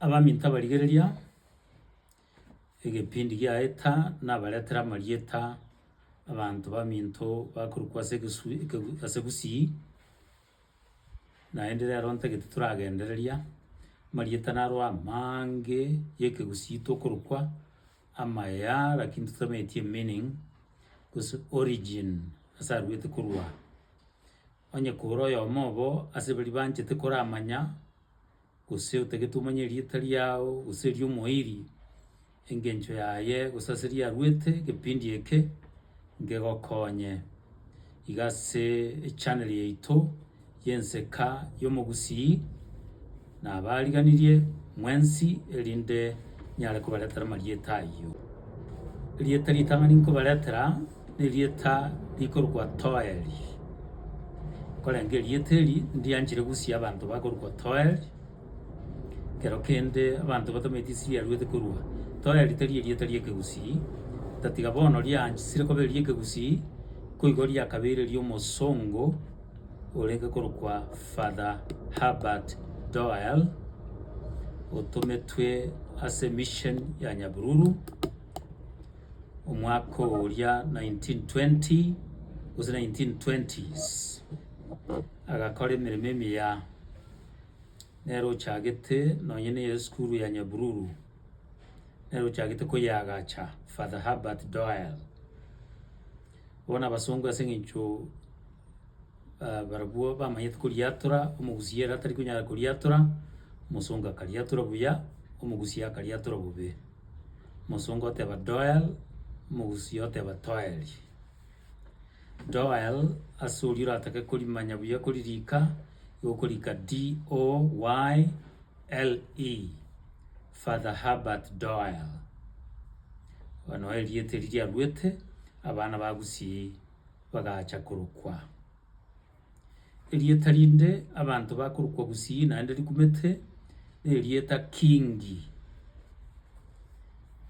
Abaminto abarigereria egepindi giaeta nabaretere amarieta abanto baminto bakorokwa ase egesu ekegu ase Gusii, naende rero ntagete toragendereria, amarieta naro amaange ya ekegusii tokorokwa, amaya lakini totameti emeaning gose origin ase arwete korwa. Onye kore oyomo obo ase baria banchete koramanya. gose otagete omanye erieta riao gose erio omoiri engencho yaye gose ase eria arwete kepindi eke nkegokonye iga ase echannel yaito y'enseka y'omogusii nabariganirie mwensi erinde nyare kobaretera amarieta ayio. Erieta ritang'ani nkobaretera. Nerieta rikorokwa Toeli. Nkorenge erieta eri ndianchire gusia abanto bakorokwa Toeli, ekero kende abanto batameti esiri aruete korwa. Toeli tari erieta ri'ekegusii, otatiga bono riaanchsire koba eri'ekegusii, nkoigo riakabeire eri'omosongo orenge korokwa Father Herbert Doyle, otometwe ase emission ya Nyabururu. omwaka oria 1920 gose 1920s agakora emeremo emiya nere ochagete nonye neye esukuru ya Nyabururu nere ochagete koyeagacha Father Herbert Doyle. Bono abasongo ase eng'encho ah, barabwo bamanyete koriatora, omogusia ere atari konyara koriatora, omosongo akariatora buya, omogusia akariatora bobe. Omosongo oteba doel, Omogusii oteba toel. Doel, ase oria oratake korimanya buya koririka, nigo okorika D-O-Y-L-E, Father Herbert Doyle. Aba nao erieta eria riarwete, abana ba Gusii bagacha korokwa. Erieta rinde abanto bakorokwa gusii naende rikumete, nerieta Kingi.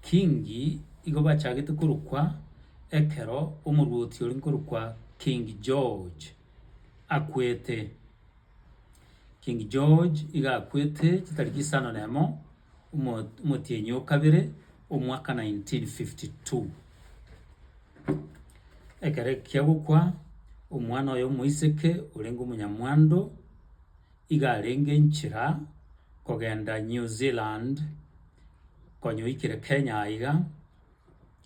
Kingi igo bachagete korokwa ekero omorwoti oria nkorokwa King George akwete. King George iga akwete chitariki isano na emo. omotienyi o kabere omwaka 1952. Ekero ekiya gokwa, omwana oye omoiseke orenge omonyamwando iga arenge nchera kogenda New Zealand konya oikire Kenya aiga,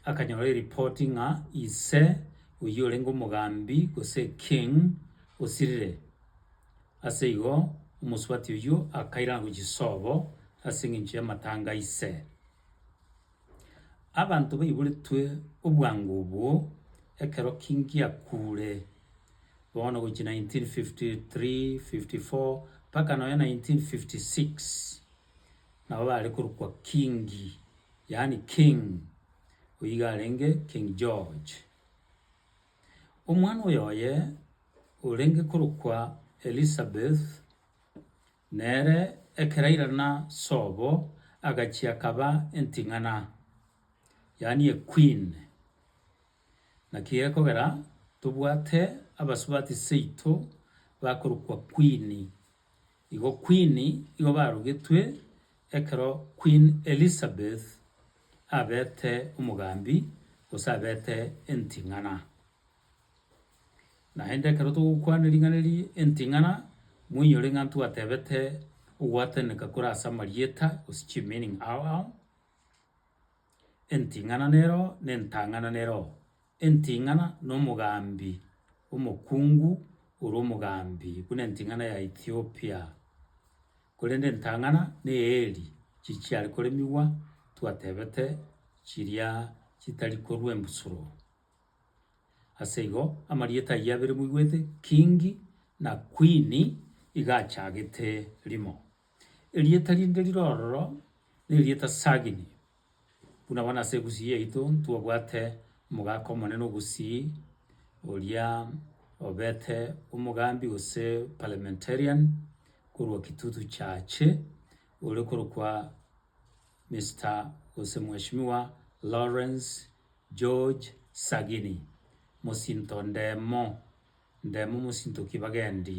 akanyora ereport ng'a ise oyio orenge omogambi gose king osirire. Ase igo omosubati oyio akairanagwa Chisobo, ase engencho y'amatanga aise. Abanto baiboretwe obwango obwo ekero Kingi akuure, bono gochia 1953, 54, mpaka nonya 1956, nabo bare korokwa Kingi, yaani King, oyio iga arenge King George. Omwana oyoye orenge korokwa Elisabeth, nere ekero airana sobo agachia akaba enting'ana, yaani equeen. Naki gekogera tobwate abasubati seito bakorokwa queen Igo Queen igo barugetwe ekero Queen Elizabeth abete omogambi gose abete enting'ana. Naende ekero togokwana ring'ana eri enting'ana, moinyore ng'a ntwatebete ogwataneka kore ase amarieta gose chimeaning ao ao, enting'ana nero na entang'ana nero. Enting'ana nomogambi omokungu orwa omogambi buna enting'ana ya Ethiopia, korende entang'ana neeri chichiare koremigwa twatebete chiria chitari korwa embusuro. Aseigo amarieta ayio abere moigwete Kingi na Kwini iga achagete rimo. Erieta rinde rirororo nerieta Sagini. Buna bono ase egusii yaito ntobwate omogaka omonene ogusii, oria obete omogambi gose parliamentarian korwa kitutu chaache, ore korokwa Mister gose mweshimiwa Lawrence George Sagini, mosinto ndemo, ndemo mosinto ki bagendi.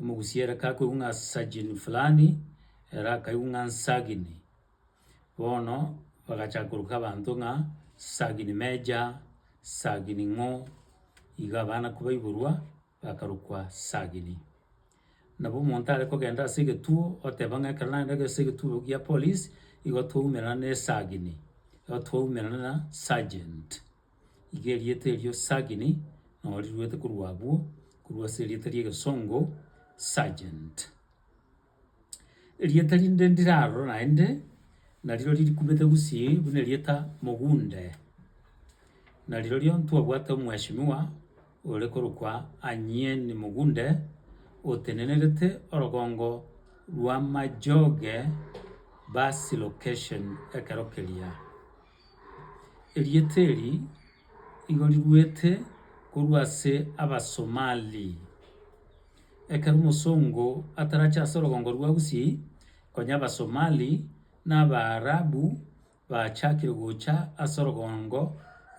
Omogusia ere kakoigwa ng'a sajin fulani, ere akaigwa ng'a nsagini. Bono bagachaka koroka abanto ng'a sagini meja, sagini ng'o, iga abana kobaiborwa bakarokwa sagini. Nabo omonto are kogenda ase egetuo oteba ng'a ekero nagenda ase egetuo gia polisi, igo twaumerana na esagini, igo twaumerana na sergeant. Iga erieta erio sagini, nabo riruete korwa abwo, korwa ase erieta ri'egesongo, sergeant. Erieta rinde ndirarora naende, narirori rikumete gusii buna erieta mogunde, narirorio ntwabwate omweshimiwa ore korokwa Anyien Mogunde, otenenerete orogongo rwa Majoge bus location ekero keria. Erieta eri igo riruete korwa ase Abasomali. Ekero omosongo atarache ase orogongo rwa Gusii, konya Abasomali na Abaarabu bachakire gocha ase orogongo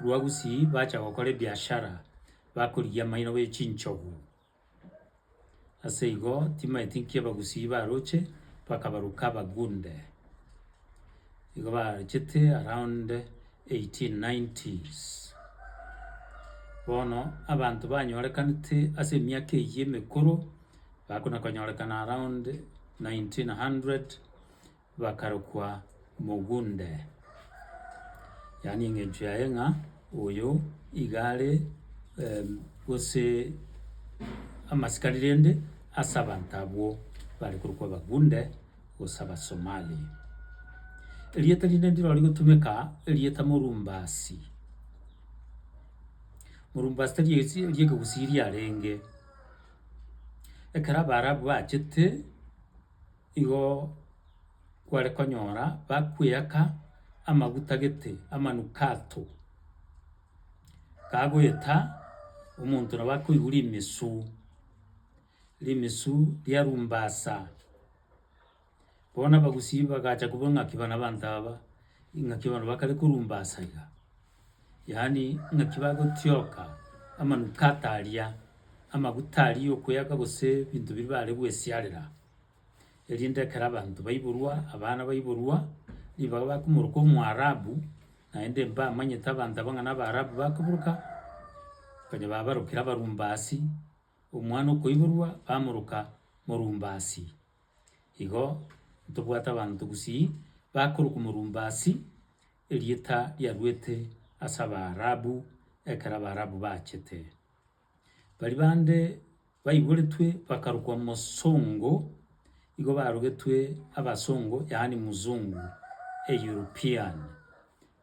rwa Gusii bacha gokora ebiashara bakorigia amaino be chinchogu. Ase igo timaeti nkebagusii baroche, bakabaruka abagunde, nigo barochete around eighteen nineties. Bono abanto banyorekanete ase emiaka eyio emekoro, bakona konyorekana around nineteen hundred. bakarokwa mogunde, yaani engencho yaye ng'a oyo iga are gose amasikari rende ase abanto abwo bare korokwa abagunde gose abasomali. Erieta rinde ndiro rigotumeka erieta morumbasi, morumbasi tari esi eri ekegusii riarenge, ekero abaarabu bachete. igo kware konyora bakweaka amaguta gete, amanukato, kagoeta omonto nabo akoigwa rimesu, rimesu riarumbasa. Bono abagusii bagacha kobua ng'aki bana abanto aba, ing'aki bano bakare korumbasa iga. yaani ng'aki bagotioka amanukato aria, amaguta aria okweyaka gose ebinto biria bare gwesiarera, erinde ekero abanto baiborwa, abana baiborwa, ribaga bakomoroka Omoarabu, naende mbamanyete abanto abwo ng'a na Abaarabu bakoboroka, konya babarokire Abarumbasi, omwana okoiborwa bamoroka Morumbasi. Igo ntobwate abanto gusii, bakorokwa Morumbasi. Erieta riaruete ase Abaarabu ekero Abaarabu bachete. Baria bande baiboretwe bakarokwa Mosongo, igo barogetwe Abasongo yaani Mzungu, a European.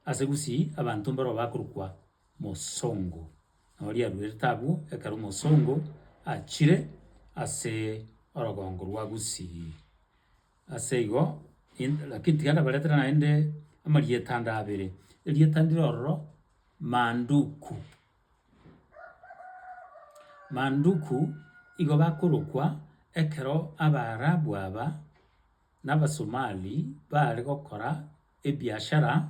Ase gusii abanto mbaroo bakorokwa Mosongo. Nabo riaruerete abwo ekero Omosongo achire ase orogongo rwa Gusii. Ase igo, in- lakini tiga ndabaretere naende amarieta ande abere, erieta ndire ororo Manduku. Manduku igo bakorokwa ekero Abaarabu aba, na Abasomali baare gokora. Ebiashara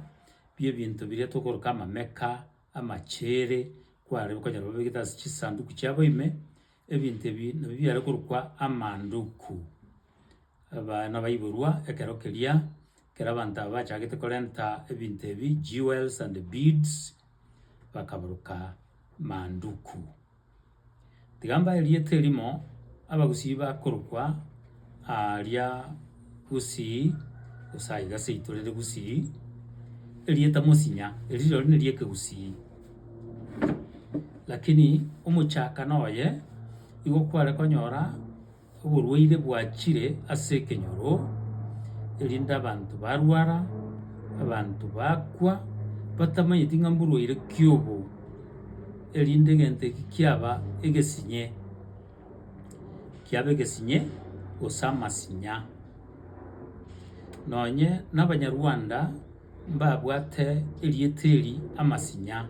bi'ebinto biria tokoroka amameka, amacheere, kwarebe okonyora babegete ase chisanduku chiabo ime, ebinto ebi nabio biare korokwa amanduku. Abana baiborwa ekero keria, ekero abanto aba bachagete korenta ebinto ebi, jewels and beads, bakabaroka manduku. Tiga mbae rieta erimo, abagusii bakorokwa aaria Gusii, gose aiga ase yaito rere Gusii, erieta mosinya, erio rirorio ne ri'ekegusii. Lakini omochakano oye, nigo kware konyora. Oborwaire bwachire ase ekenyoro, erinde abanto barwara, abanto bakwa, batamanyeti ng'a mborwaire ki obo, erinde egento eki kiaba egesinye, kiaba egesinye gose amasinya. Nonye na abanyarwanda mbabwate erieta eri amasinya,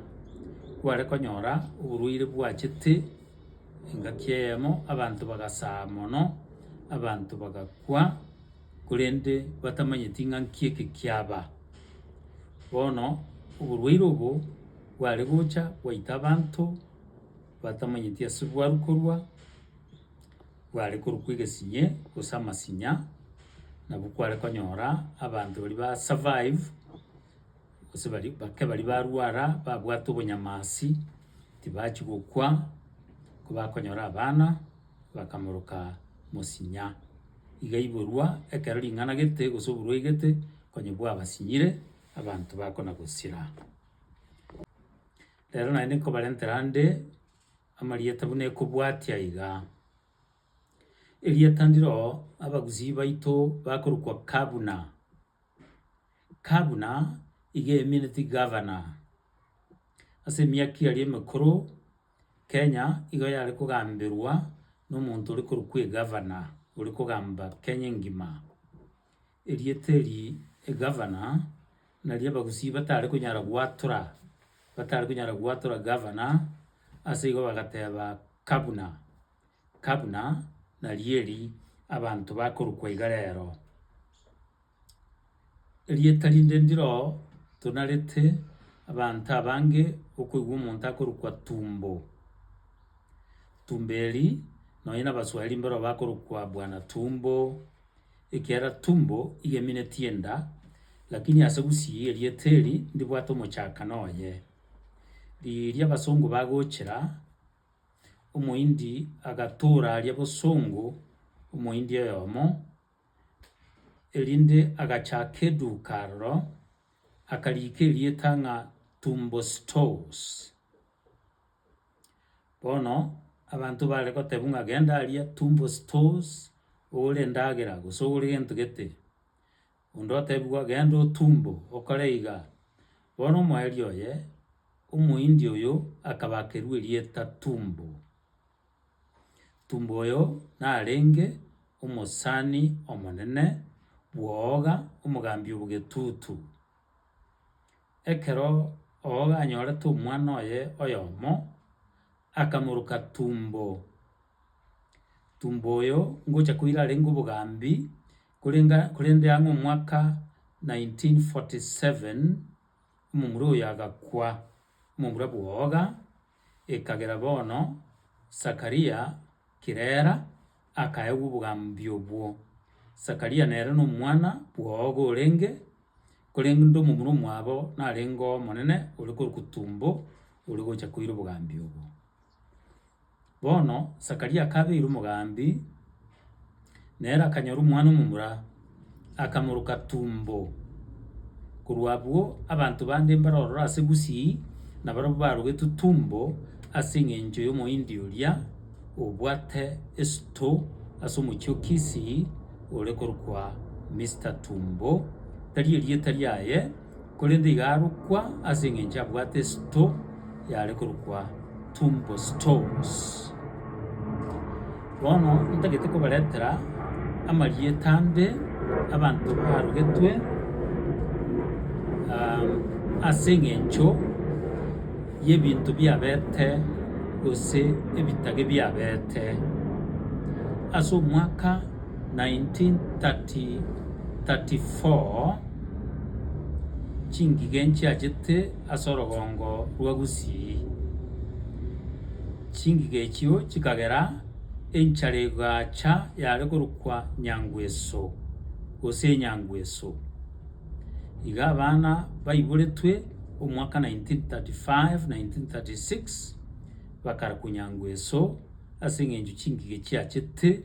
kware konyora oborwaire bwachete. Engaki eyemo abanto bagasaa mono, abanto bagakwa, korende batamanyeti ng'a nki eke kiaba. Bono oborwaire obo bware gocha bwaita abanto batamanyeti ase bwarwa korwa, bware korokwa egesinye gose amasinya, nabo kware konyora abanto baria ba survive. Gose baria bake baria barwara babwate obonyamasi tibachia gokwa, kobakonyora abana bakamoroka mosinya. Iga iborwa ekero ring'ana gete gose oborwae gete konye bwabasinyire abanto bakona gosira. Rero naye nkobarentera ande amarieta buna ekobwatia iga, erieta ndiro abagusii baito bakorokwa kabuna. Ka buna igeemineti gavana ase emiaka eria emekoro, Kenya igo yare kogamberwa na omonto ore korokwa egavana, ore kogamba Kenya engima. Erieta eri egavana, nari abagusii batare konyara gwatora, batare konyara gwatora gavana, ase igo bagateba kabuna. kabuna narieri abanto bakorokwa iga rero. Erieta rinde ndiro tonarete abanto abange okoigwa omonto akorokwa Tumbo. Tumbo eri nonye na abaswahili mboro bakorokwa bwana tumbo, ekiagera tumbo iga emineti enda, lakini ase gusii erieta eri ndibwate omochakano oye. Riria abasongo bagochera. Omohindi agatoora aria bosongo omohindi oyomo, erinde agachaka eduka aroro, akariika erieta ng'a Tumbo Stores. Bono abanto bare goteba ng'a genda aria Tumbo Stores oore endagera gose oore gento gete. Onde otebigwa, Genda otumbo, okore iga. Bono omoerio oye, Omohindi oyo, akabakerwa erieta Tumbo. Tumbo oyo narenge omosani omonene bw'ooga, omogambi o bw'egetutu. Ekero Ooga anyorete omwana oye oyomo, akamoroka Tumbo. Tumbo oyo ngocha koira arenge obogambi, Korende korende ang'e omwaka 1947 omomura oyo agakwa, omomura bw'oboga, ekagera bono Sakaria Kirera akaegwa obogambi obwo. Sakaria nere nomwana bw'oboga orenge, korende omomura omwabo narenge omonene ore korokwa Tumbo ore gocha koira obogambi obwo. Bono Zakaria akabeirwa omogambi, na ere akanyora omwana omomura, akamoroka tumbo. Korwa abwo abanto bande mbare ororo ase gusii, na barabwo barogetwe tumbo ase engencho y'Omohindi oria obwate esito ase omochie o Kisii, ore korokwa Mister Tumbo, tari erieta riaye. korende iga arokwa ase engencho abwate esto yare korokwa tumbo stones. Bono ntagete kobaretera amarieta ande abanto barogetwe ase engencho yebinto biabete gose ebitage biabete ase omwaka. 1934 chingige nchiachete ase orogongo rwa Gusii. Chingige echio chikagera enchara egacha yare korokwa Nyangweso gose Enyangweso. Iga abana baiboretwe omwaka 1935, 1936 bakarakwa Nyangweso ase eng'encho chingige chiachete.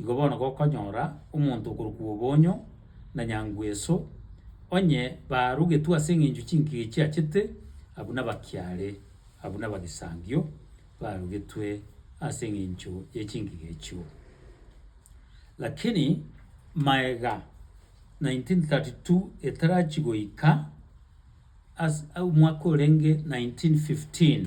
igo bono gokonyora omonto okorokwa Obonyo na Nyangweso, onye barugetwe ase eng'encho chinkige chiachete, abwo nabakiare, abwo nabagisangio barugetwe ase eng'encho ye chinkige echio. Lakini maega 1932 etarachi goika as- omwaka orenge 1915.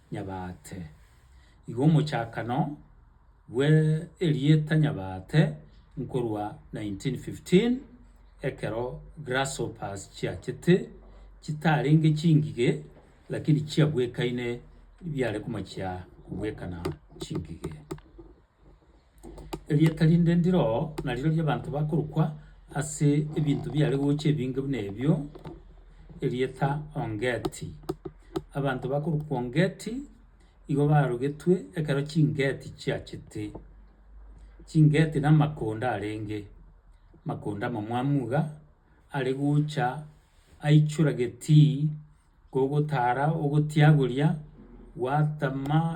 Nyabaate. Igo omochakano bwe erieta Nyabaate nkorwa 1915 ekero Grasshoppers chiachete chitarenge chingige lakini chiabwekaine biare komachia kobwekana chingige. Erieta rinde ndire oo nareo ri'abanto bakorokwa ase ebinto biare gocha ebinge buna ebio, erieta Ongeti. Abanto bakorokwa Ongeti igo barogetwe ekero chingeti chiachete. Chingeti na amakonda arenge, amakonda amamwamu iga are gocha aichora getii kogotara ogotiagoria gwatama.